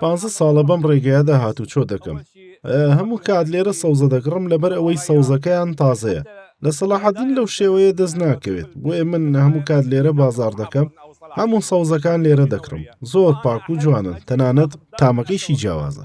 پانزە ساڵە بەم ڕێگەیەدا هاتوچۆ دەکەم هەموو کات لێرە سەوزە دەگڕم لەبەر ئەوەی سەوزەکەیان تازەیە لە سەلاحەدین لەو شێوەیە دەست ناکەوێت بۆیە من هەموو کات لێرە بازار دەکەم هەموو سەوزەکان لێرە دەکڕم زۆر پاک و جوانن تەنانەت تامەکەیشی جیاوازە.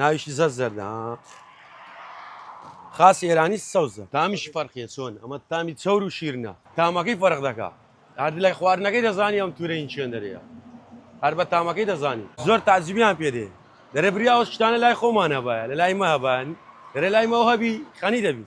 ناویشی زەر زەردە ها خاص ئێرانی سەوزە تامیشی فەرقیە چۆن ئەمە تامی چەور و شیرنە تامەکەی فەرق دەکا هەر لای خواردنەکەی دەزانی ئەم تورە این چێن دەرەیە هەر بە تامەکەی دەزانی زۆر تاجیبیان پێدێ دەرێ بریا ئەو شتانە لای خۆمانە باە لە لای مە هەبان دەرێ لای مەوهبی خەنی دەبی